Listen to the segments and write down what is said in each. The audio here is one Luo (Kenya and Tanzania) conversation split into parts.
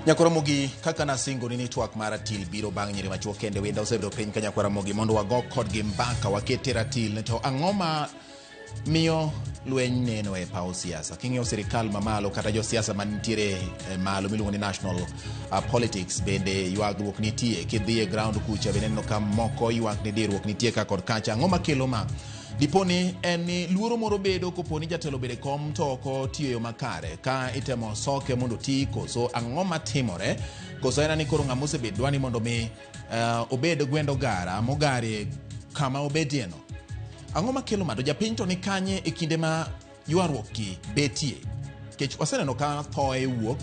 nyakwara mogi kaka nasingoni ni twak mar atil biro bang' nyiri machuo kende wenda osebedo piny ka nyakwara mogi mondo wago kodgi mbaka waket e ratil to ang'o ma miyo lweny neno e paw siasa king'iyo sirikal mamalo kata josiasa manitiere e malo miluongo ni national uh, politics bende ywagruok nitie kidhi e ground kucha bende neno ka moko ywak ni diruok nitie ka kod kacha ang'o makelo ma diponi en ni luoro moro bedo koponi jatelo bede kom to ok otiyo e yo makare ka itemo soke mondo oti koso ang'o matimore koso en ani koro ng'ama osebed dwani mondo mi uh, obed gwend ogara mogarie kama obedieno. Ang'o makelo mado japiny to ni kanye e kinde ma ywaruok gi betie? Kech waseneno ka thoe wuok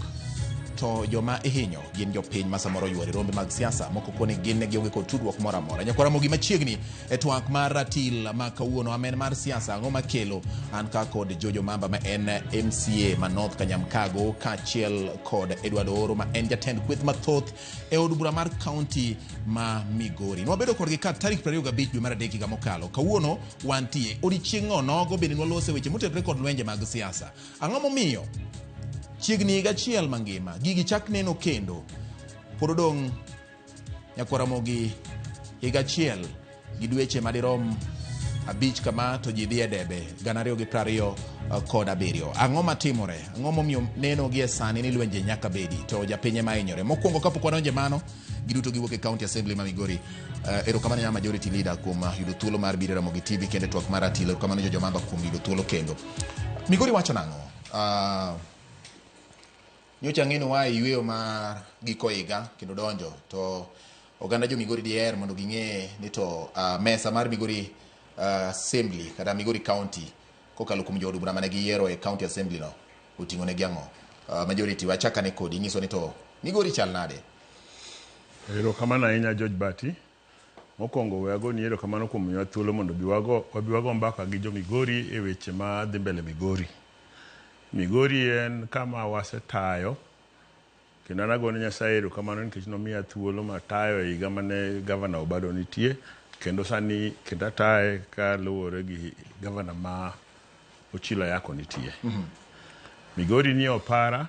to joma ihinyo gin jopiny ma samoro ywari rombe mag siasa moko koni gin ne gionge kod tudruok moro amora nyakwara mogi machiegni e twak mar ratil ma kawuono amen mar siasa ang'o makelo an ka kod jojo mamba ma en mca ma north kanyamkago kaachiel kod edward oro ma en jatend kweth mathoth e od bura mar kaunti ma Migori. Nwabedo kodgi ka tarik 25 dwe mar adek higa mokalo. Kawuono wantie odiechieng' onogo bende nwalose weche motenore kod lwenje mag siasa. Ang'o momiyo chiegni higa achiel mangima gigi chak neno kendo pod odong' nyaka Ramogi higa achiel Gi dweche madirom abich kama to ji dhi e debe gana ariyo gi prariyo eh, kod abiriyo ang'o matimore ang'o momiyo neno gi e sani ni lwenje nyaka bedi to japinye ma hinyore mokwongo kapok wadonje mano giduto giwuok e county assembly ma migori uh, erokamano nya majority leader kuom uh, yudo thuolo mar biro ramogi tv kendo e twak mar atilo erokamano jo jomamba kuom yudo thuolo kendo migori wacho nang'o uh, Nyocha ang'e ni waa e yueyo mar giko higa kendo donjo to oganda jo Migori diher mondo ging'e ni to ah, mesa mar Migori ah, Assembly kata Migori County kokalo kuom jood bura mane giyiero e County Assembly no oting'o negi ang'o? Ah, Majority wachakane kodi inyiso ni to Migori chal nade? Erokamano ahinya George Bati. Mokwongo we agoni erokamano kuom miwa thuolo mondo obi wago, wabi wago mbaka gi jo Migori e weche ma dhi mbele Migori. Migori en kama wasetayo kendo an agone Nyasaye erokamano nikech nomiya thuolo matayo e higa mane Gavana Obado nitie kendo sani kendo ataye kaluwore gi Gavana ma Ochilo Ayako nitie. Migori ni e opara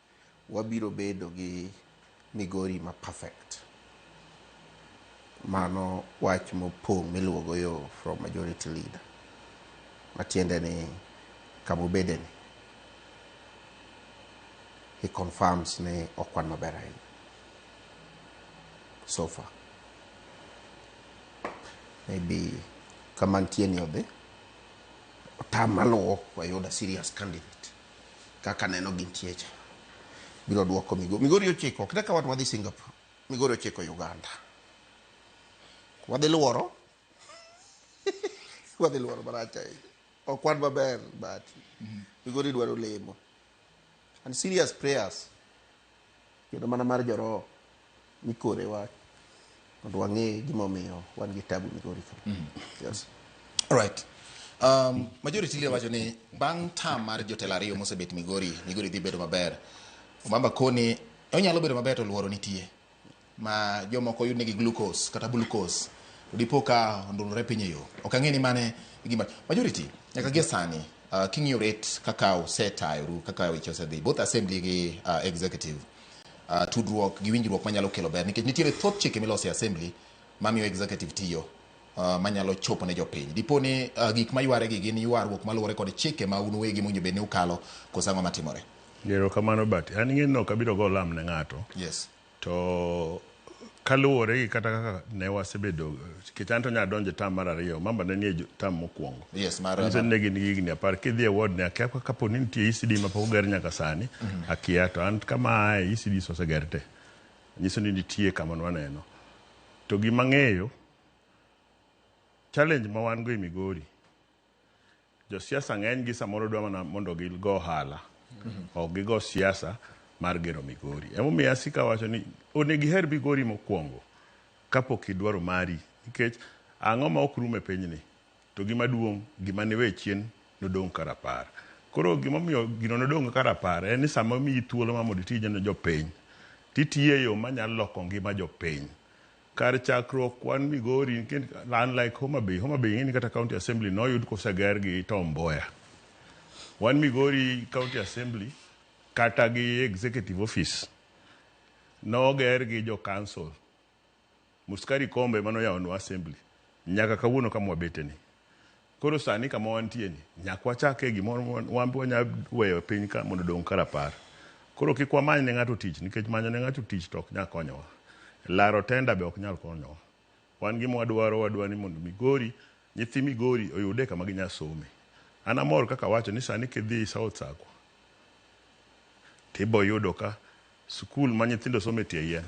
Wabiro bedo gi Migori ma perfect. Mano wach mopong' miluwogo yo from majority leader. Matiende ni kama obede ni, he confirms ni ok wan maber ahinya. So far. Maybe kama antie ni odhi, otam maluwo wayud a serious candidate. kaka aneno gintie cha biro duoko Migori. Migori ochiko kata ka wadhi Singapore, Migori ochiko Uganda. Wadhi luoro wadhi luoro marach ahinya. Ok wan maber but Migori dwaro lemo and serious prayers. Kendo mana mar joroho mikore wach mondo wang'e gimomiyo wan gi tabu migori ka. Mm. Yes. All right. Um, majority leader wacho ni bang' tam mar jotelo ariyo mosebet Migori, Migori dhi bedo maber. Omamba koni onyalo bedo maber to luoro nitie. ma jomoko yud negi glucose kata glucose to dipo ka ondulore piny e yo ok ang'e ni mane gima majority nyaka gie sani uh, king'iyo rate kaka osetayoru kaka weche osedhi both assembly gi uh, executive uh, tudruok gi winjruok manyalo kelo ber nikech nitiere thoth chike miloso e assembly mamiyo executive tiyo uh, manyalo chopo ne jopiny dipo ni uh, gik mayware gi gin ywaruok maluwore kod chike ma un uwegi mowinjo bed ni ukalo koso ang'o matimore Erokamano but an ing'eni ok abiro go lam ne ng'ato. yes To kaluwore gi kata kaka ne wasebedo nikech an to nya donjo e tam mar ariyo mamba ne nie jo- tam mokwongo Yes, mar- Nyiso ni ne gin gi higni apar kidhi e ward ne akia ka- kapo ni nitie ECD ma pok oger nyaka sani akia to an kama aaye ECDs oseger te nyiso ni nitie kama waneno to gima ng'eyo challenge ma wan go e Migori Josiasa ng'eny gi samoro dwa mana mondo gigo ohala. Ok gigo siasa mar gero Migori. Emomiyo asiko awacho ni onego iher Migori mokwongo kapok idwaro mari. Nikech ang'o ma ok rum e pinyni? To gima duong' gima niwe chien nodong' ka rapar. Koro gimomiyo gino nodong' ka rapar en ni sama omiyi thuolo ma mondo iti ne jopiny, titiyo e yo manyalo loko ngima jopiny. Kar chakruok kwan Migori unlike Homabay, Homabay ing'eni kata county assembly noyud koseger gi Tom Mboya. Wan Migori county assembly kata gi executive office noger gi jo council. Muskari Kombe emane oyawonwa assembly nyaka kawuono kama wabeteni. Koro sani kama wantie ni, nyaka wachak e gimoro ma wan be wanya weyo e piny ka mondo odong' ka rapar. Koro kik wamany ne ng'ato tich nikech manyo ne ng'ato tich to ok nya konyowa. Laro tenda be ok nyal konyowa. Wan gima wadwaro, wadwa ni mondo Migori, nyithi Migori oyude kama ginya some. An amor kaka awacho ni sani kidhi South Circle, tiboyudo ka. Skul ma nyithindo some tie yien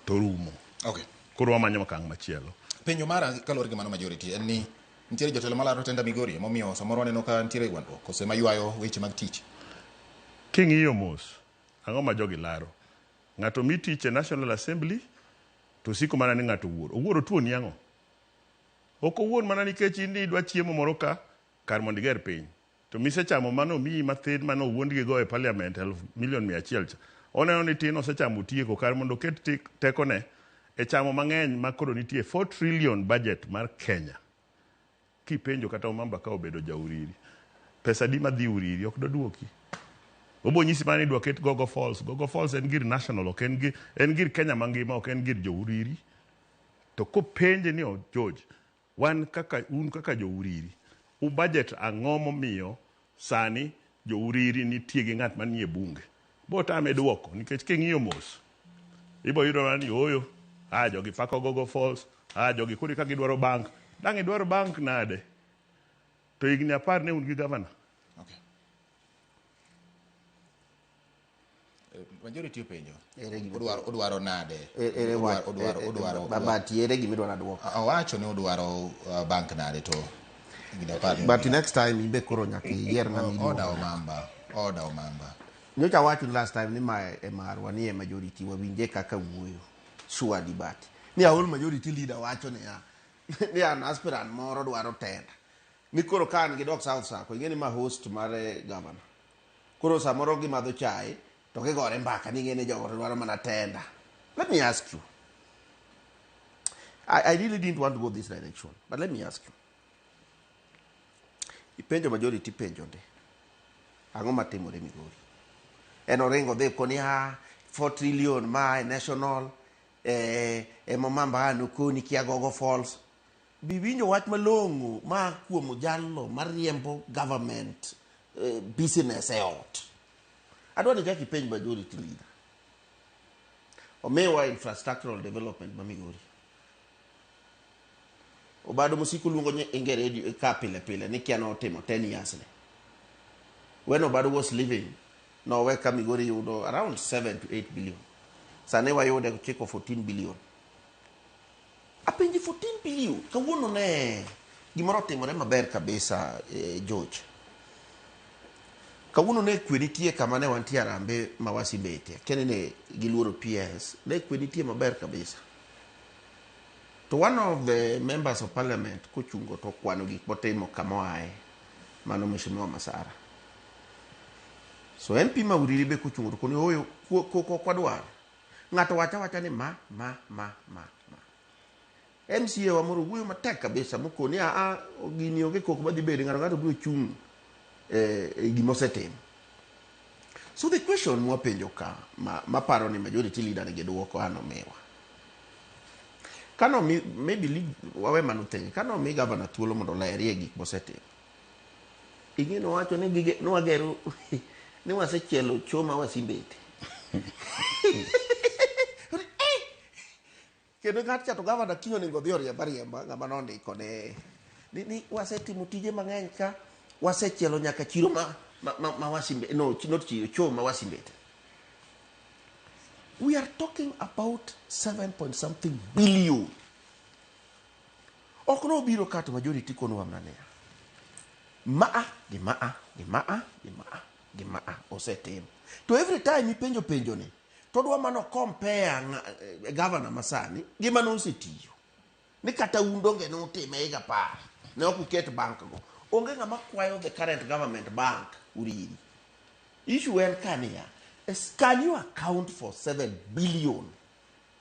to rumo. Okay. Koro wamanyo okang' machielo. Penjo mara kaluwore gi mano majority en ni nitiere jotelo malaro tenda Migori emomiyo samoro aneno ka nitiere gwandruok kose maywayo weche mag tich. King'iyo mos, ang'o ma jogi laro? Ng'ato mi tich e National Assembly to siko mana ni ng'ato owuor. Owuor otuoni ang'o? Ok owuor mana nikech in idwa chiemo moro ka kar mondo iger piny. To misechamo mane omiyi mathin mane owuondgi go e parliament eluf milion mia achiel cha. Oneno ni tin osechamo otieko kar mondo oket tekone e chamo mang'eny ma koro nitie four trillion budget mar Kenya. Kipenjo kata Omamba ka obedo ja Uriri, pesa adi ma dhi Uriri ok doduoki. Obo nyisi mana ni idwa ket Gogo Falls. Gogo Falls en gir national ok en gir, en gir Kenya mangima ok en gir jo Uriri. To kopenje ni George, Wan kaka un kaka jo Uriri u budget ang'o momiyo sani jo Uriri nitie gi ng'at manie bunge? Botame duoko nikech king'iyo mos ibo yudo mana ni ooyo ah jogi pako gogo falls ah jogi koro eka gidwaro bank. Dang' idwar bank nade to higni apar ne un gi governor? Okay. Majority openjo. Ere gima- Odwaro odwaro nade? E- ere wa- Odwaro odwaro e- e- odwaro. ba- but ere gima idwaro adwoko Awacho ni odwaro uh, bank nade to. Gida par ni. but next time ibe koro nyaka iyier ng'ama Oda iluongo omamba. Oda omamba. nyocha awacho ni last time ni ma e marwa ni e majority wawinje kaka wuoyo sure di but ni aol majority leader wacho niya ni an aspirant moro dwaro tenda ni koro ka an gi dok south sako ing'e ni ma host mar eh, governor Koro samoro gimadho chai to gigore mbaka ni ng'eni jogo to dwaro mana tenda. Let me ask you. I, I really didn't want to go this direction, but let me ask you. Ipenjo majority penjo ndi. Ang'o matimore Migori? En oringo dhi koni ha 4 trillion ma e national eh, emomamba anukoni kiagogo falls Bi winjo wach malong'o ma kuom jalno mariembo government eh, business e ot. Adwa ni kaka ipenj majority leader. Omiwa infrastructural development ma Migori. Obado mosiko luongo nye inge radio eh, ka pile pile ni kia notimo 10 years ne. When Obado was living, nowe ka Migori yudo around 7 to 8 billion. Sani wayude chiko 14 billion. Apenji for team PU, kawuono ne gimoro otimore maber kabisa eh, George. Kawuono ne kwe nitie kama ne wantie Arambe ma Wasibete, kene ne giluoro PS, ne kwe nitie maber kabisa. To one of the members of parliament kochungo to okwano gik motimo kama oaye, mano Mheshimiwa Masara. So MP Mauriri be kochungo to koni oyo ko- ko- ko- kwadwar. Ng'ato wacho awacha ni ma, ma, ma, ma, ma. MCA wa moro wuoyo matek kabisa mokoni a a gini onge koko madhi bede ng'ato ng'ato biro chung' eh, e gima osetimo. So the question mwapenjo ka ma, maparo ni majority leader ni gidwoko ano miwa. Kano mi, maybe lead, wawe mano thenge. Kano mi governor thuolo mondo olerie gik mosetimo. Ing'e nowacho ni gige nwagero ni wasechielo cho ma wasimbete. Eh! Kendo ng'at cha to gavana kiny onego odhi oriemba riemba ng'ama nondiko ne ni, ni wasetimo tije mang'eny ka wasechielo nyaka chiro ma ma, ma, ma wasimbe no ch- not chiro cho ma wasimbete. We are talking about 7 point something billion Ok nobiro ka to majority konowa mana niya, maa gi maa gi maa gi maa gi maa osetim. To every time ipenjo penjo ni to odwa mana compare eh, governor masani gi mane osetiyo. Ni kata un donge ne utime higa apar ne ok uket bank go. Onge ng'ama kwayo the current government bank uriri. Issue en ka niya, can you account for 7 billion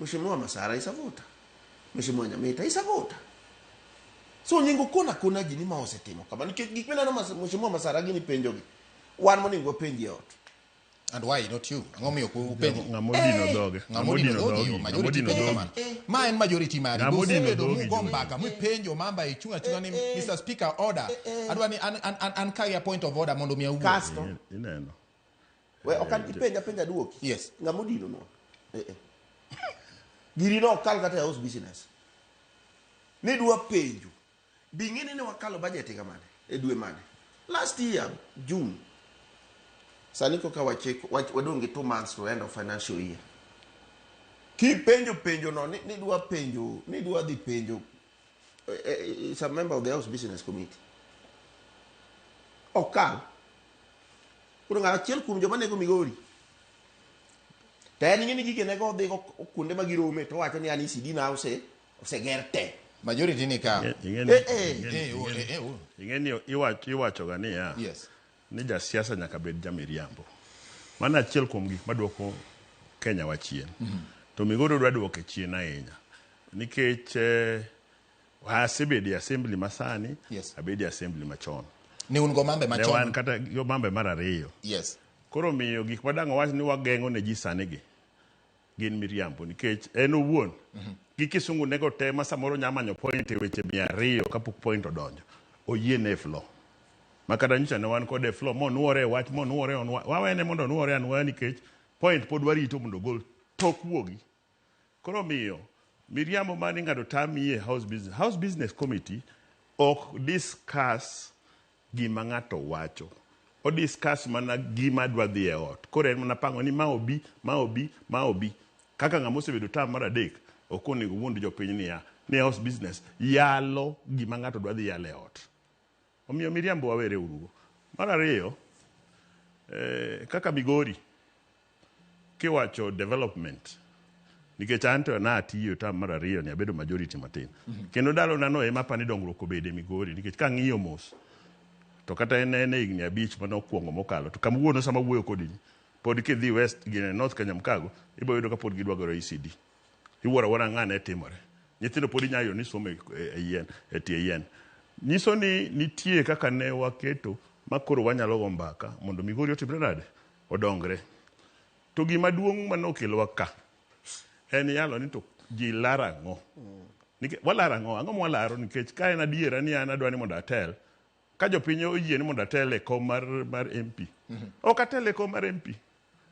Mheshimiwa Masara is a voter. Mheshimiwa Nyamita is a voter. So onego kona kona ji ni ma osetimo kama nikech gik mineno mas, Mheshimiwa Masara gini penjogi. Wan monego wapenji e ot. And why not you? Ang'o miyo ku- upenjo? Ng'ama odino dhoge. Ng'ama odino dhogi, Ng'ama majority odino penjo dhogi. kamano. Ma en majority mari. Ng'ama odino Usebedo dhogi, mugo Juma. mbaka, mipenjo mamba ichung' achung'a ni Mr. Speaker order. Adwa ni an an an an kagi a point of order mondo mi awuo. Kasto Ineno. We ok an ipenja penja duoki. Yes. Ng'ama odino no. Eh eh. Giri no kal kata house business. Ne dwa penjo. Bi ng'ene ne wakalo budget ga mane? E dwe mane? Last year June. Sani koka wacheko wach- wadong' gi two months to end of financial year. Kipenjo penjo no ni- nidwa penjo nidwa dhi penjo is a member of the house business committee okal koro ng'ato achiel kuom joma nego migori to en ng'e ni gigene go odhigo kuonde ma girome to wacho ni an ECD na ose oseger te majority ni ka Ing'e- ing'e ni- Eh, eh, ing'e ni- eh, oh, eh, oh. ing'e ni iwach- iwachoga niya Yes. Ni ja siasa nyaka bed ja miriambo. Mano achiel kuom gik maduoko Kenya wa chien. Mm -hmm. To Migori dwa duoke chien ahinya. Nikech eh, asebedi assembly masani, yes. abedi assembly machon. Ni un go mambe machon? Ne wan kata go mambe mar ariyo. Yes. Koro miyo gik madang' wach ni wageng'o ne ji sani gi. gin miriambo nikech en owuon gi kisungu nego te ma samoro nya manyo point e weche mia ariyo kapok point odonjo oyie ne flo ma kata nyocha ne wan kode flo monwore e wach monwore onwa- wawene mondo onwore anwoya nikech point pod warito mondo ogol tok wuogi koro miyo miriambo ma ni ng'ato tami e house business house business committee ok discuss gima ng'ato wacho. O discuss mana gima adwa dhi e ot. Koro en mana pango ni ma obi, ma obi, ma obi. Kaka ng'ama osebedo term mar adek, ok onego owuond jopiny niya, ni e house business yalo gima ng'ato dwa dhi yalo e ot. Omiyo miriambo wawere urugo. Mar ariyo, eh, kaka Migori, Kiwacho development nikech an to natiyo tam mar ariyo ni abedo majority matin kendo ndalo nano ema apani dongruok obede e Migori nikech kang'iyo mos to kata en en e higni abich mane okwongo mokalo to kama wuono sama wuoyo kodi ni, pod kidhi west gi north Kanyamkago ibo yudo ka pod gidwa gero ECD iwuoro awuora ng'a ne timore nyithindo pod inyalo yudo ni somo e, e yien e tie yien nyiso ni nitie kaka ne waketo ma koro wanyalo go mbaka mondo Migori otimre nade odongre. To gima duong' ma nokelowa ka en yalo ni to ji laro ang'o. Nikech walaro ang'o? Ang'o ma walaro? Nikech ka en adiera ni an adwa ni mondo atel, ka jopiny oyie ni mondo atel e kom mar, mar MP, ok atel e kom mar MP.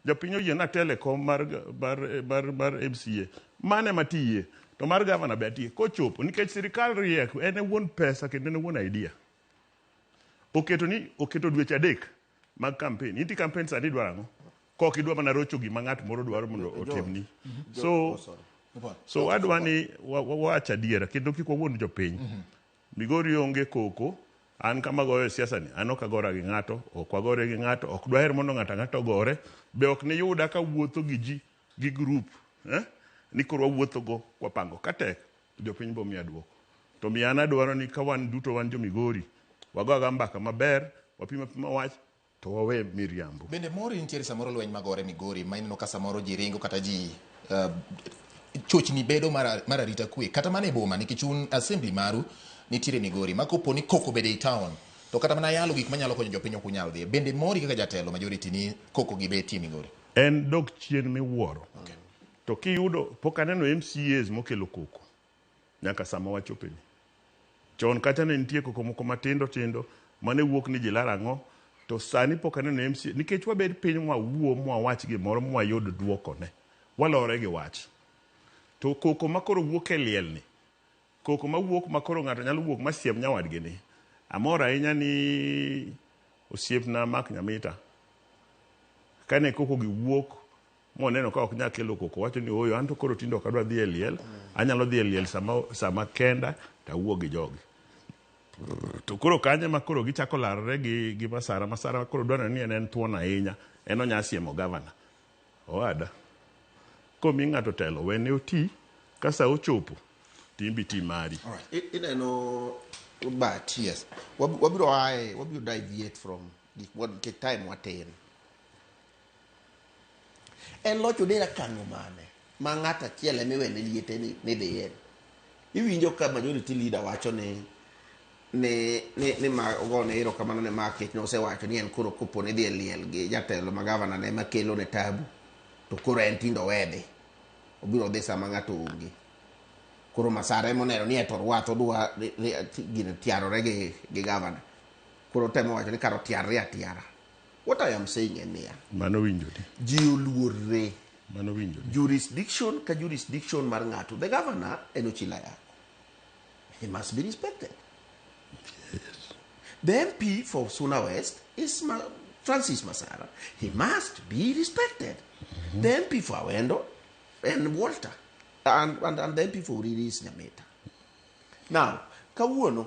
Jopiny oyie ni atel e kom mar, mar, mar, mar MCA. Mano ema atiye. To mar gavana be atiye. Kochopo, nikech sirkal riek, en e wuon pesa kendo en e wuon idea. Oketo ni, oketo dweche adek mag campaign inti campaign sani idwaro ang'o kok idwa mana rocho gima ng'at moro dwaro mondo otimni so so wadwa ni wa- wa- wawach adiera kendo kik wawuond jopiny migori onge koko an kama goyo e siasa ni an ok agora gi ng'ato ok wagore gi ng'ato ok dwaher mondo ng'ato ang'ato ogore be ok niyuda ka wuotho gi ji gi grup eh? ni koro wawuothogo kwapango ka tek Jopiny bo miya duoko. To omiyo an adwaro ni ka wan duto wan jo Migori, wago aga mbaka maber, wapim apima wach, to wawe miriambo. Bende mori nitiere samoro lweny magore Migori ma ineno ka samoro ji ringo kata ji chochni bedo mar arita kwe kata mana e boma nikech un assembly maru nitiere Migori ma kopo ni koko bede i town to kata mana yalo gik manyalo konyo jopiny ok unyal dhiye. Bende mori kaka jatelo majority ni koko gi betie Migori? En dok chien miwuoro. To kiyudo pok aneno MCAs mokelo koko nyaka sama wachopeni. Chon kacha ne nitie koko moko matindo tindo mane wuok ni jilar ang'o to sani pok aneno MCA nikech wabed piny mwawuo mwawach gimoro mwayud duokone walore gi wach. To koko makoro wuok e liel ni koko mawuok makoro ng'ato nyalo wuok masiem nyawadgi ni amor ahinya ni osiepna Mark Nyamita kane koko gi wuok moneno ka ok nyal kelo koko owacho ni ooyo an to koro tinde ok adwa dhi e liel anyalo dhi e liel sama, sama kenda to awuo gi jogi to koro kanye ma koro gichako larore gi, gi masara masara koro dwarore ni en en thuon ahinya en onya siemo gavana owada komi ng'ato telo wene oti ka sa ochopo timbi ti mari Alright, i- ineno but yes Wab- wabiro aye wabiro deviate from gik mwa- nikech time watin En loch odera kanyo mane ma ng'at achiel ema iwene liete ni ni dhi en. Iwinjo ka majority leader wacho ni ni ni ni ma ogone erokamano ne Mark nikech nosewacho ni en koro kopo ni dhi e liel gi jatelo ma gavana ne makelo ne tabu to koro en tindo wedhi. Obiro dhi sama ng'ato onge. Koro masara ema oneno ni eto orwath odwa ni- ni- ti- gino tiarore gi gi gavana. Koro otemo wacho ni kar otiarre atiara. What I am saying en niya, Mano winjore. ji oluorre Mano winjore. jurisdiction ka jurisdiction mar ng'ato. The governor en Ochila Yako. He must be respected. The MP for Suna West is Ma- Francis Masara. He must be respected. The MP for Awendo and Walter. And, and, and the MP for Uriri is Nyameta. Now, kawuono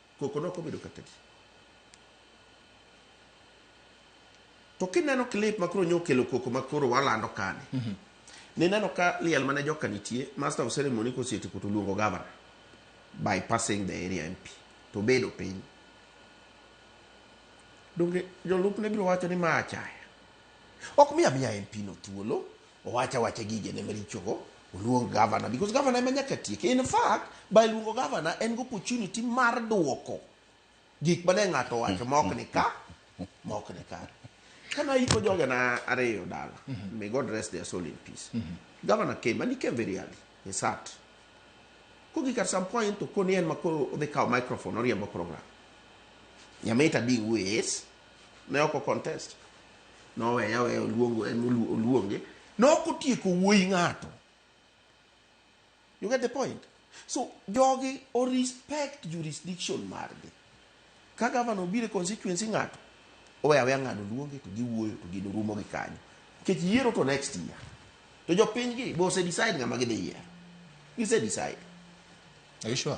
Koko ne ok obedo kaka di. To kineno clip ma koro nyokelo koko ma koro walando kani. Mm -hmm. Nineno ka liel mane joka nitie, master of ceremony koseti kuto luongo governor by passing the area MP to bedo piny. Donge jolup ne biro wacho ni ma achaya. Ok miya miya MP no thuolo. Owacha wacha gigene marichogo, oluong governor because governor ema nyaka tieke. In fact, by luongo governor en gi opportunity mar duoko gik mane ng'ato owacho ma ok ni ka, ma ok ni kare. Kane ayiko jogena ariyo dala, may God rest their soul in peace. Governor came and he came very early. He sat. Kogik at some point to koni en ma koro odhi kawo microphone oriembo program. Nyamita being who he is, ne ok okontest noweye aweya oluongo en olu- oluonge ne ok otieko wuoyi ng'ato you get the point so jogi o respect jurisdiction margi ka gavana obiro e constituency ng'ato owe aweya ng'ano luonge to giwuoyo to gino rumo gi kanyo nikech yiero to next year to jopinygi be ose decide ng'ama gidhi yiero gise decide Are you sure?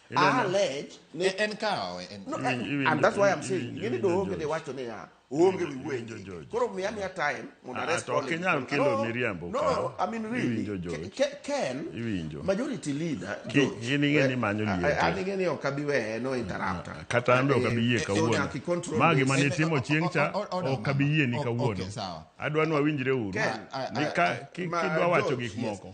a lec e, en kawe eh, and that's why i'm saying gini do onge ni wacho ni ya onge wi wenjo koro miya miya time mondo ah, arest all kinyal kelo miriambo no i mean really ken majority leader gini ngeni eh, manyo liete eh, ani ngeni ok abi we no interrupt ah, kata ambe ok abi yie kawuono magi mane timo chieng cha ok abi yie ni kawuono adwa ni wawinjre uru ni ka kidwa wacho gik moko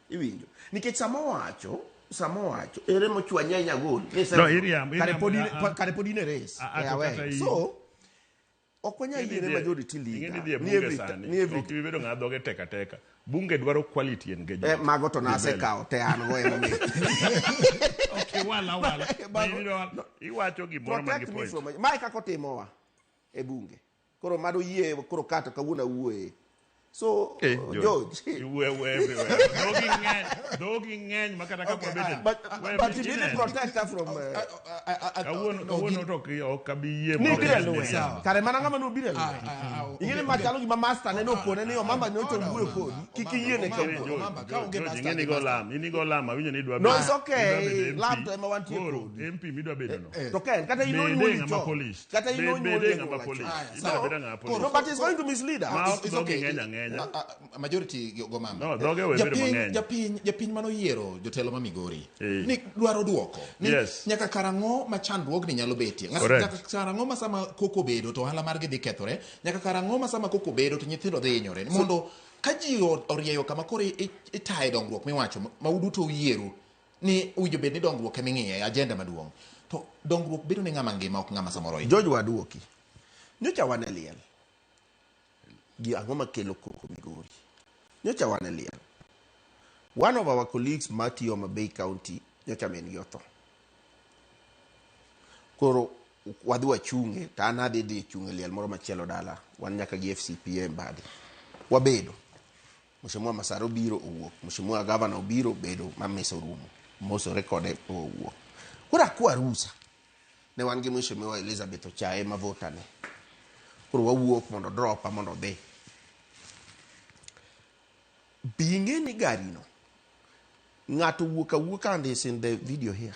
Iwinjo. Nikech sama owacho, sama owacho, ere mochwa nyanya gol. Ni sema- No, iriambo, Kare iriambo, pod in- ah, ah. kare pod in e race. Ah, ah, Eh, to aware. kata in. So, ok wanyal yiene majority Ing'e ni leader. dhie Ni bunge every- sani. ni every- Ok ibi bedo ng'a dhoge teka teka. Bunge dwaro quality and Eh, engagement. mago to Dhi mbele. nasekawo te an go emomiyo. Okay, wala, wala. Mago- Iwinjo wala. Iwacho gimoro man gi Protect me point. from- Mae kaka otimowa e bunge. Koro mado yie koro kato kawuono awuoye. So eh, uh, George, you were everywhere. Dogi ng'eny, dogi ng'eny makata ka okay, uh, but, but he didn't protect her from uh, kawuono kawuono to ki ok abi yie mo. Nibira luwe. Kare mana ngama no bira luwe. Ingene ma chalo gima master ne no kone ni omama ne ocho wuoyo kodi. Kiki yie ne kawuono. Omama ka onge master. Ingene go lam, ini go lam awinjo ni dwa. No it's okay. Lam to ema wantie kodi. MP midwa bedo no. To ken kata ino ni mo ni cho. kata Be- ino nyuol bede e ng'ama nyuola police. chon. Aya, Ibiro sawa. beda ng'ama police. No, but he's going to mislead Ma- us. It's- it's Dhogi okay. ng'eny ang'enya. Ma- a- a- majority go go mama. No, dhoge we bedo Japiny- mang'eny. Japiny japiny mano yiero jotelo ma Migori Eh. ni dwaro duoko ni Yes. nyaka karang'o ma chandruogni nyalo betie. Ng'at- Correct. Nyaka karang'o ma sama koko bedo to ohala margi dhi kethore. Nyaka karang'o ma sama koko bedo to nyithindo dhi hinyore. Mondo ka ji o- orieyo kama koro i- i- itaye dongruok miwacho ma uduto uyieru ni owinjo bed ni dongruok ema ing'iye, agenda maduong'. To dongruok bedo ne ng'ama ngima ok ng'ama samoro ohinyore. George Waduoki, Nyocha wan e liel gi ang'o makelo koko Migori? Nyocha wan e liel. One of our colleagues matiyo Homa Bay County nyocha min gi otho. Koro wadhi wachunge to an adhi dhi chung' e liel moro machielo dala. Wan nyaka gi FCPA e mbadi. Wabedo. Mheshimiwa Masara obiro owuok, Mheshimiwa Gavana obiro obedo ma mesa orumo, mosore kode owuok. Koro akwa rusa, ne wan gi Mheshimiwa Elizabeth Ochaye ma vota ne. Koro wawuok mondo dropa mondo odhi. Be ing'e ni gari no, ng'ato wuok awuoka and is in the video here.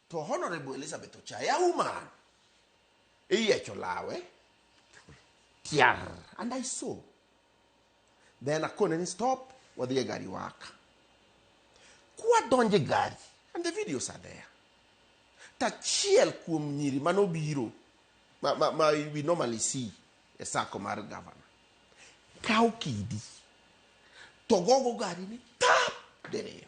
To Honorable Elizabeth Ochaya woman iyiecho lawe tiar and I saw then akone ni stop wadhi e gari waka kwadonje gari and the videos are there tachiel kuom nyiri manobiro ma, ma, ma we normally see e sako mar gavana kawo kidi to gogo gari ni tap diriyo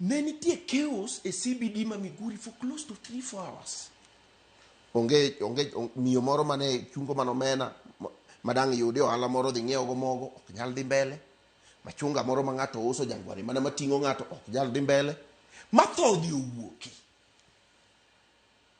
Ne nitie chaos e CBD ma Miguri for close to 3 4 hours. Onge onge on- miyo moro mane chungo mano mena ma- madang' yude ohala moro dhi ng'iewo go mogo ok nyal dhi mbele. Machunga moro ma ng'ato uso jangwari mana mating'o ng'ato ok nyal dhi mbele. Matho odhi owuoki.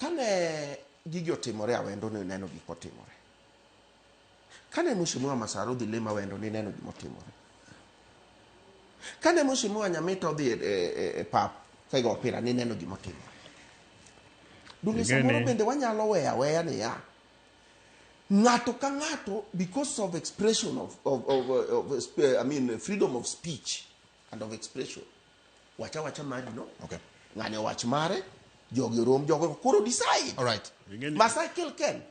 Kane gigi otimore awendo ni neno gik otimore. Kane Mheshimiwa Masara odhi lemo awendo ni neno gima otimore. Kane Mheshimiwa Nyamita odhi e, e, e, e pap kaigo opira ni neno gima otimore. Donge samoro bende wanyalo weya weya ni ya ng'ato ka ng'ato because of expression of, of, of, of, of I mean freedom of speech and of expression wacha wacha mari no Okay. ng'ani owach mare jogi orom jogo koro decide All right. Ing'eni- masai kill ken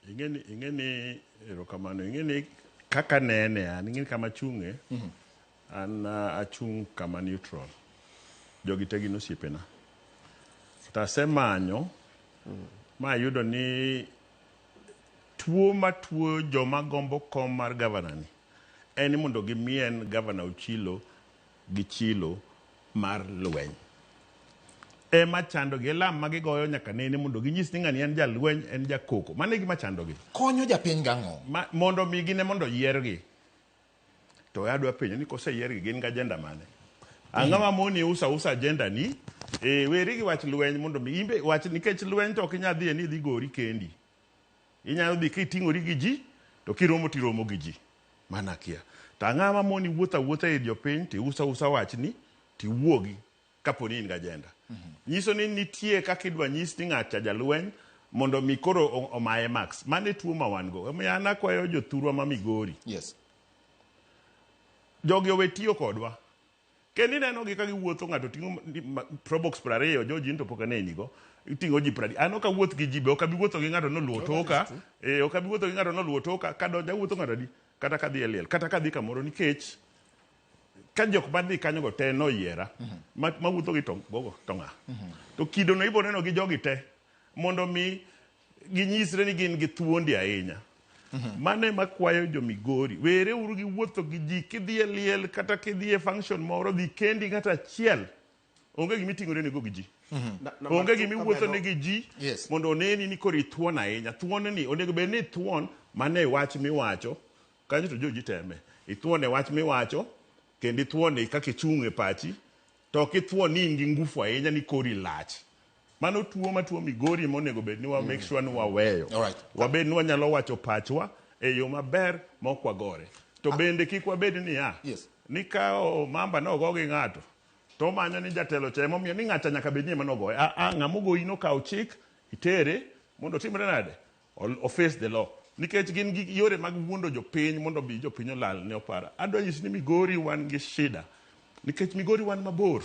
ing'eni ing'eni erokamano ing'eni kaka nene an ing'eni kama chung'e an ah, achung' kama neutral jogi te gin osiepena tasemanyo ma ayudo ni tuo matuo joma gombo kom mar gavanani en ni mondo gimien Gavana Ochilo gi chilo mar lweny. Ema chandogi, e lam ma gigoyo nyaka nene mondo ginyis ni ng'ani en jalweny, en jakoko. Mano e gima chandogi. Konyo japiny gang'o? Ma, mondo mi gine mondo yiergi. To adwa penjo ni koseyiergi gin gi agenda mane? Ang'o ma moni usa usa agenda ni? E, weri gi wach lweny mondo mi imbe wach nikech lweny to ok inyal dhiye ni idhi gori kendi. Inyalo dhi ka iting'ori gi ji, to kiromo to iromo gi ji mana kia. To ang'o ma moni wuotho awuotha ir jopiny to iuso ausa wachni to iwuogi kapo ni in gi ajenda. Nyiso ni nitie kaka idwa nyis ni ng'at cha jalweny mondo omi koro o- omaye marks. Mano e tuo ma wan go. Omiyo an akwayo jothurwa ma Migori, Yes. jogi owe tiyo kodwa. Kendo ineno gi ka giwuotho ng'ato ting'o probox piero ariyo George into pok aneni go iting'o ji pradi an ok awuoth gi ji be ok abi wuotho gi ng'ato noluwo toka eh ok abi wuotho gi ng'ato noluwo toka ka donja wuotho ng'ato adi kata ka dhi e liel kata ka dhi kamoro nikech ka jok ma dhi kanyo go te noyiera mm -hmm. ma wuotho gi tong' gogo to ng'a mm -hmm. to kido no ibo neno gi jogi te mondo mi ginyisre ni gin gi thuondi ahinya. Mhm. Mano ema kwayo jo Migori, were uru gi wuotho gi ji kidhi e liel kata kidhi e function moro dhi kendi ng'ato achiel onge gima iting'ore nego gi ji mhm. onge gima iwuotho ne gi ji mondo oneni ni koro ithuon ahinya thuon ni onego bed ni ithuon mane wach miwacho kanyo to joji teme ithuon e wach miwacho kendo ithuon e kaka ichung' e pachi To ok ithuo ni in gi ngufu ahinya ni kori lach. Mano tuo ma tuo Migori ema onego bed ni wa make sure ni waweyo. Alright. Wabed ni wanyalo wacho pachwa e yo maber ma ok wagore. To bende kik wabed niya, Yes. ni ka o, mamba ne ogo gi ng'ato to omanyo ni jatelo cha ema omiyo ni ng'acha nyaka bed ni ema nogoye. A a ng'ama ogoyi nokaw chik itere mondo otimre nade? Ol o face the law. Nikech gin gi yore mag wuondo jopiny mondo obi jopiny olal ne opara. Adwa nyisi ni Migori wan gi shida. Nikech Migori wan mabor.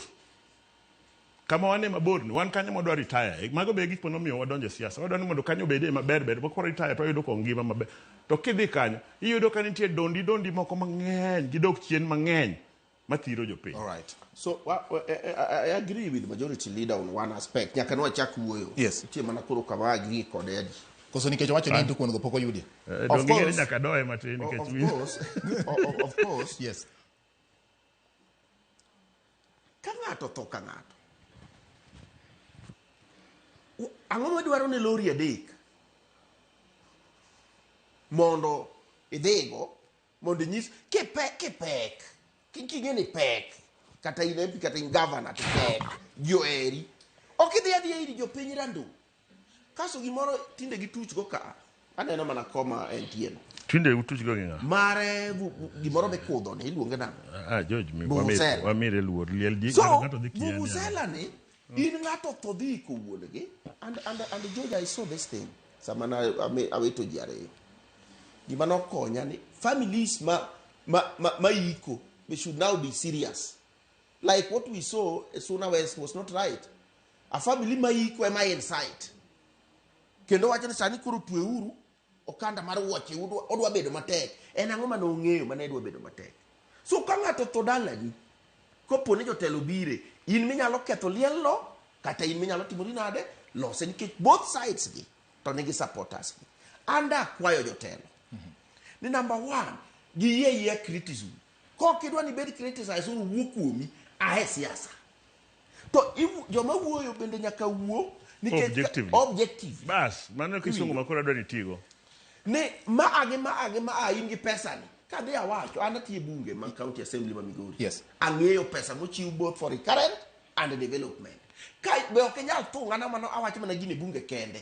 Kama wan e mabor ni, wan kanyo mwadwa retire. E, mago be gik manomiyo wadonjo e siasa. Wadwa ni mondo kanyo obed e maber ber. Mok retire to wayudo kong ngima maber. To kidhi kanyo, iyudo ka nitie dondi dondi moko mang'eny. Gidok chien mang'eny. mathiro jopiny. All right. So wa- wa- I, I- I agree with majority leader on one aspect. Nyaka nwachak wuoyo. Yes. Nitie mana koro kama agree kod Eddie. Koso nikech owacho ni en to kuon go pok oyudi. Eh, Of donge course. nyaka doye matin O- nikech of winjo. course, o- o- of course, Yes. ka ng'ato tho ka ng'ato. U- Ang'o madwaro ni lori adek mondo idhigo mondo inyis kipek kipek Ki- king'e ni pek kata in MP kata in governor to pek ji oheri ok idhi adhiya ir jopiny rando kaso gimoro tinde gituchgo ka aneno mana koma entieno Tinde utuchgo gi ng'a? mare vu- vu- gimoro mikudho ni iluonge nang'o Ah, George, mi- Vuvuzela. wamire- wamire luor. Liel ji- so ng'ato dhi kieni. vuvuzela ni In ng'ato otho dhi iko wuongi and, and, and George I saw this thing sama na ame- awito ji ariyo gima nokonya ni families ma, ma, ma, ma iko they should now be serious like what we saw at Suna West was not right a family ma iko ema inside kendo wacho ni sani koro tweuru Okanda mar wuoche odwa bedo matek. En ang'o mane ong'eyo mane dwa bedo matek? So ka ng'ato otho dalani, kopo ni jotelo obire, in minyalo ketho liel no, kata in minyalo timori nade, lose nikech both sides gi to nigi supporters gi. An da akwayo jotelo ni number one, giyie ayiya criticism. Kok idwa ni ibed criticized or owuo kuomi, a e siasa. To iwu- joma wuoyo bende nyaka wuo nikech Objectively. objective. Bas, mano e kisungu ma koro adwa ni tigo. ni ma agi ma agi ma a in gi pesa ni kadhi awacho an atiye bunge ma county assembly ma migori Yes. ang'eyo pesa mochiw both for recurrent and development ka be ok inyal thungana mano awacho mana gini bunge kende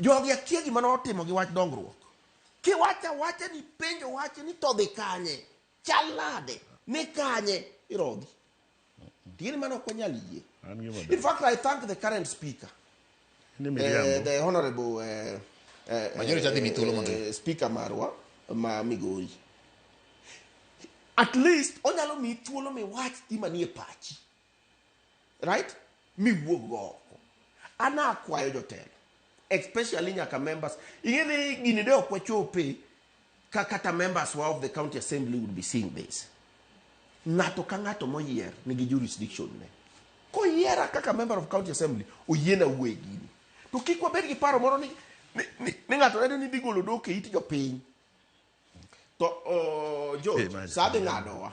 Jogi akia gima notimo gi wach dongruok. Kiwacho awacha ni penjo wach ni to dhi kanye? Chal nade? Ni kanye? Irogi. Tieni mano ok wanyal yie. An gima In fact, I thank the current speaker, ni uh, miriambo. the honorable uh, uh, Majority adhi mi thuolo mondo- uh, speaker marwa ma Migori. At least onyalo mi thuolo miwach gima nie pachi. right miwuog go oko an akwayo jotelo especially nyaka members ing'e ni gini de ok wachope ka kata members wa of the county assembly would be seeing this ng'ato ka ng'ato moyier nigi jurisdiction ne koyiera kaka member of county assembly oyiena wuoye gini to kik wabed gi paro moro ni, ni, ni, ni ng'ato neno ni digolo dok e it jopiny to uh, jo Eh, man. sa dhi ng'adowa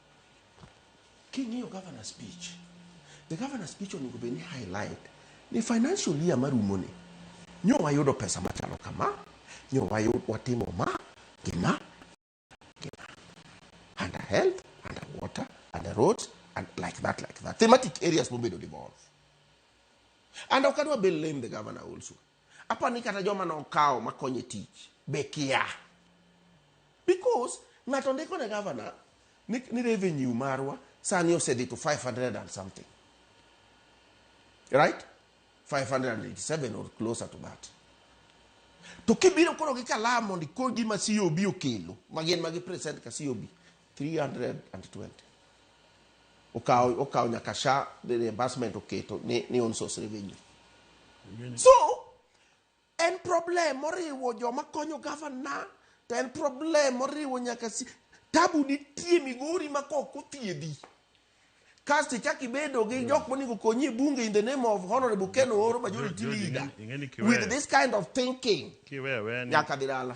King'iyo governor speech, the governor speech onego bed ni highlight ni financial year marumo ni nyo wayudo pesa machalo kama, nyo wayud watimo ma gi ma gi ma under health, under water, under roads and like that like that thematic areas mobedo devolve and ok adwa be lame the governor also Aparo ni kata joma nokawo makonyo e tich be kia. Because ng'ato ndiko ne gavana ni, ni revenue marwa sani osedhi to 500 and something. Right? 587 or closer to that. To kibiro koro gi kalam mondo ikor gima COB okelo, magin magi present ka COB, 320 okawo okawo nyaka sha the reimbursement oketo ni, ni on source revenue so en problem moriwo joma konyo gavana to en problem moriwo nyaka si tabu nitie migori ma kok othiedhi kasto ichak ibedo gi jok monego konyi e bunge in the name of honorable ken ooro majority George, leader ing'e- ing'e ni kiweyo. with this kind of thinking kiwewe ni nyaka dhi dala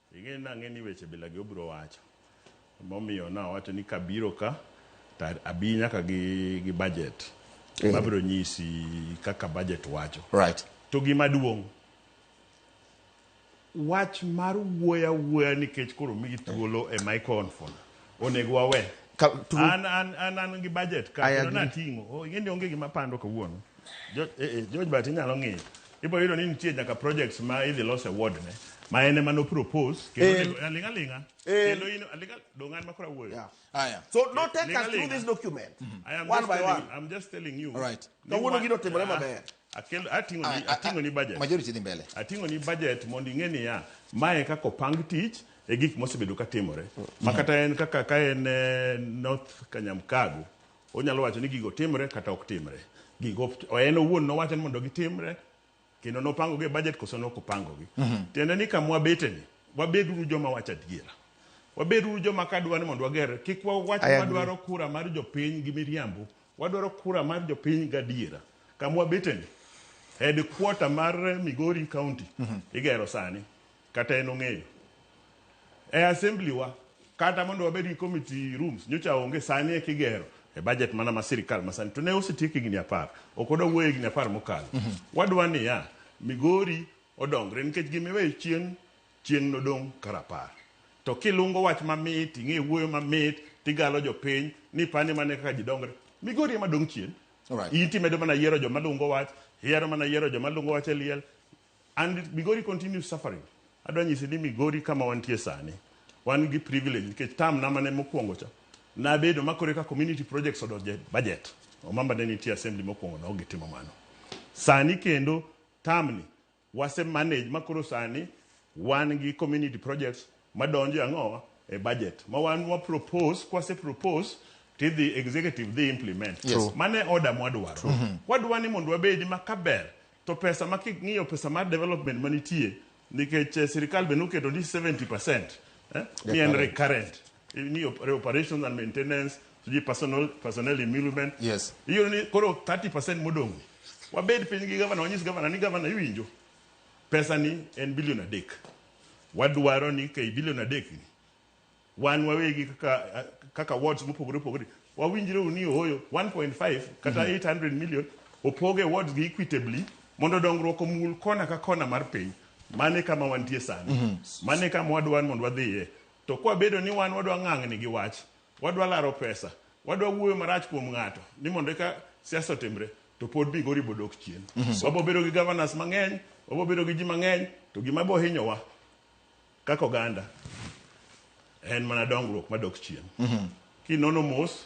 Ing'e nang'e ni weche bila gi obiro wacho. Emomiyo nawacho ni kabiro ka to abi nyaka gi, gi budget. Eh. Mabiro nyisi kaka budget wacho. Right. To gima duong' wach mar wuoya wuoya nikech koro migi thuolo e microphone. onego wawe Ka- true. an an an an gi budget ka I kendo agree. nating'o Oh, ing'e ni onge gima pando kawuono Jo- eh, eh, George but inyalo ng'eyo ibiro yudo ni nitie nyaka projects ma idhi los e ward ne ma en ema nopropose Eh. kendo onego- aling' aling'a Eh. kendo in aling' al- dong' an makora wuoyo Yeah. Haya. so no take us Linga, through linga. this document I am one just by telling- one I'm just telling you All right. ni Kawuono wa- gino timore Ah, maber. Akel, ating'o ni, ating'o ni budget. Majority dhi mbele. Ating'o ni budget mondo ing'e niya, mae kaka opang tich e gik mosebedo ka timore. Ma kata en kaka ka en eh, North Kanyamkago, onyalo wacho ni gigo timre kata ok timre. Gigo ok- en owuon nowacho ni mondo gitimre kendo nopangogi e budget koso ne ok opangogi. Tiende ni kama wabeteni, wabeduru joma wacho adiera. Wabeduru joma ka dwa ni mondo wager, kik wawach Aya, madwaro kura mar jopiny gi miriambo Wadwaro kura mar jopiny gadiera. Kama wabeteni, headquarter mar Migori County igero sani, kata en ong'eyo. E assembly wa, kata mondo wabed gi committee rooms, nyocha onge, sani eka igero e budget mana ma sirikal masani. To ne osetiek higni apar, ok wadwa wuoyo higni apar mokalo. Wadwa niya, Migori odongre nikech gima iweyo chien Chieng' nodong' ka rapar. To kilungo wach mamit, ing'e wuoyo mamit, tigalo jopiny, ni pane mane kaka ji dongre. Migori ema dong' chien. Alright. In timedo mana yiero joma lungo wach, ihero mana yiero joma lungo wach e liel. And Migori continues suffering. Adwa nyisi ni Migori kama wantie sani, wan gi privilege nikech term na mane mokwongo cha, nabedo ma koro eka community projects odonjo e budget. Omamba ne nitie assembly mokwongo no ok gitimo mano. Sani kendo term ni, Wase manage ma koro sani wan gi community projects madonjo e ang'o? E budget ma wan wa propose, kwase propose tidhi executive dhi implement. Yes. Mano e order mwadwaro. Wadwa ni mondo wabedi ma kaber to pesa ma king'iyo pesa mar development manitie nikech eh, sirikal be noketo ni 70% eh, ni en correct. recurrent. ni op- reparations and maintenance sijui personal personnel emolument Yes. hiyo ni koro 30% modong wabed piny gi gavana wanyis gavana ni gavana iwinjo pesa ni en bilion adek wadwaro ni kei bilion adek ni wan wawegi kaka kaka wards mopogore opogore wawinjre ni ohoyo 1.5 kata 800 million opoge wards gi equitably mondo dongruok omul kona ka kona mar piny mane kama wantie sani mane kama wadwar mondo wadhiye To kwa bedo ni wan wadwa ng'ang'ni gi wach, wadwa laro pesa, wadwa wuoyo marach kuom ng'ato ni mondo eka siasa otimre, to pod Migori bodok chien. Wabo bedo gi governors mang'eny, wabo bedo gi ji mang'eny, to gima bo hinyowa kaka oganda en mana dongruok madok chien. Kinono mos,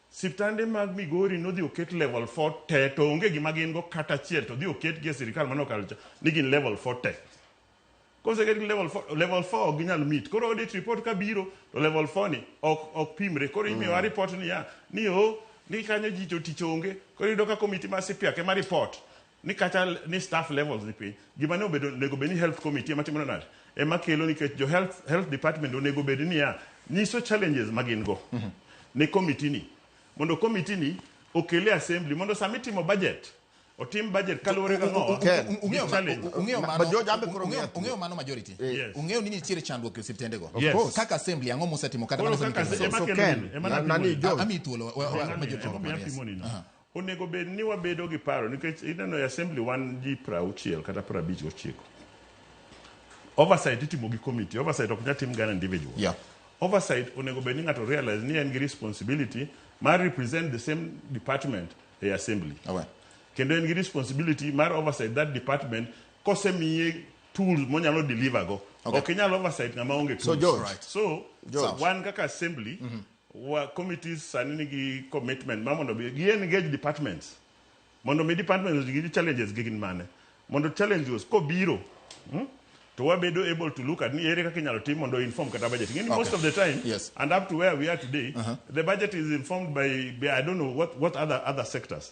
Siptande mag Migori nodhi oket level 4 te to onge gima gin go kata achiel to dhi oketgi e sirkal mane okalo cha ni gin level 4 te. Koseketgi level 4, level 4 ok ginyal meet. Koro audit report ka biro to level 4 ni ok ok pimre. Koro imiyowa mm. report ni ya ni o ni kanyo ji to tich onge. Koro iyudo ka komiti mar CPAC ema report. ni kata ni staff levels ni piny gima ne obedo onego bed ni health committee ema timo nade ema kelo nikech jo health, health department onego bed niya nyiso challenges ma gin go mm -hmm. ne committee ni mondo committee ni okele assembly mondo sama itimo budget otim budget kaluwore gi ng'owa ung'eyo mano majority ung'eyo ni nitiere chandruok e osiptendego kaka assembly ang'o mosetimo kata mana ami thuolo majority Onego bed ni wabedo gi paro nikech ineno e assembly wan ji prauchiel kata prabich gochiko. Oversight itimo gi committee. Oversight ok nyal tim gana individual. Yeah. Oversight onego bed ni ng'ato realize ni en gi responsibility mar represent the same department e assembly. Awe. Kendo en gi responsibility mar oversight that department kosemiye tools monyalo deliver go. Okay. Ok inyal oversight ng'ama onge tools. So George. Right. So George. wan kaka assembly Wa committees sani nigi commitment ma mondo gi engage departments mondo mi departments gi challenges gi gin mane mondo challenges kobiro hmm? to wabedo able to look at ni ere kaka inyalo tim mondo inform kata budget ngeni okay. most of the time yes. and up to where we are today uh -huh. the budget is informed by, by i don't know what, what other, other sectors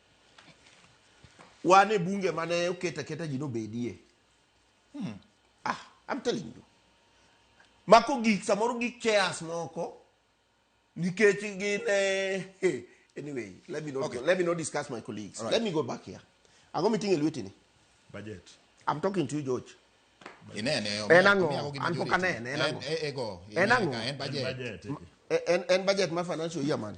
Wan e bunge mane oket aketa ji nobedie. Hmm. Ah, I'm telling you. Mako gik samoro gik chairs moko nikech gin eh, hey, anyway, let me not okay. let me not discuss my colleagues. Right. Let me go back here. Ango miting'e lweti ni? Budget. I'm talking to you George. Inene. En ang'o? An pok anene. En ang'o? En ang'o? En budget. En budget ma financial year man.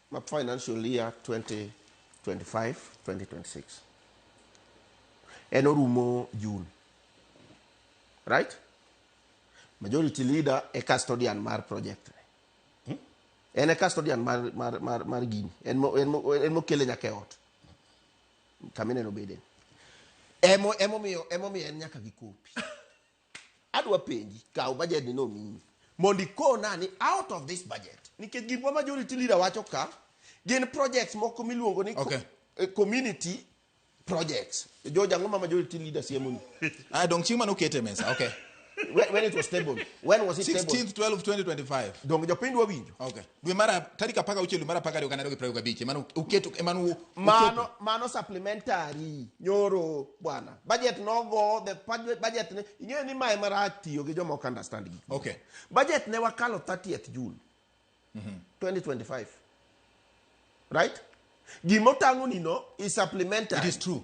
ma financial year 2025 2026 en orumo June right majority leader e custodian mar project ni en e custodian mar, mar, mar, mar gini en mo- en mo- en mokele nyaka e ot kamineno bede emo emomiyo emomiyo en nyaka gi kopi Adwa penji, kaw budget ni nomiyi mondo ikona ni out of this budget nikech gik ma majority leader wacho ka gin projects moko miluongo ni okay. Eh, community projects. George, ang'o ma majority leader siemoni? Ah, dong chieng' mane okete mesa, okay. when, when it was stable. When was it 16th, stable? 16th, 12th, 2025. Dong jopiny dwa winjo. Okay. dwe mara tarik apar gauchiel dwe mara apar gariyo gana ariyo gi piero ariyo gabich emane uketo emane u- uketo. mano mano supplementary nyoro bwana budget nogo the budget- budget ne ing'eyo ni mae marach tiyo gi joma ok understand gik moko. Okay. budget ne wakalo 30th june 2025 right gima otang'onino is supplementary It is true.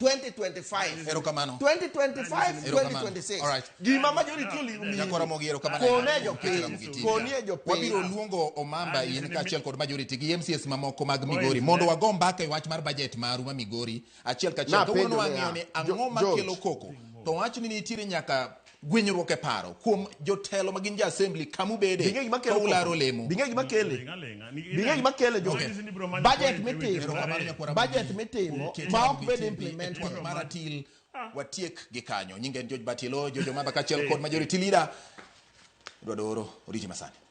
2025 Erokamano. 2025 Erokamano. 2026 Alright. gima majority olimi Jakora mogi erokamano. kone Erokamano. jopiny konie Wabiro jopiny luongo Omamba in kaachiel kod majority gi MCS mamoko mag Migori mondo wago mbaka e wach mar budget maru ma Migori achiel kaachiel. Napenjo Kawuono niya, wang'eyo ni ang'o Jo- makelo George. koko. To wach ni nitiere nyaka gwenyruok e paro kuom jotelo magin jo assembly kamu bede to ularo lemo binge gima kele binge gima kele jo budget mitimo budget mitimo ma ok bed implement maratil ah. watiek gi kanyo nyinge en George Batilo jojo mamba kachel kod majority leader dwadoro oriji masani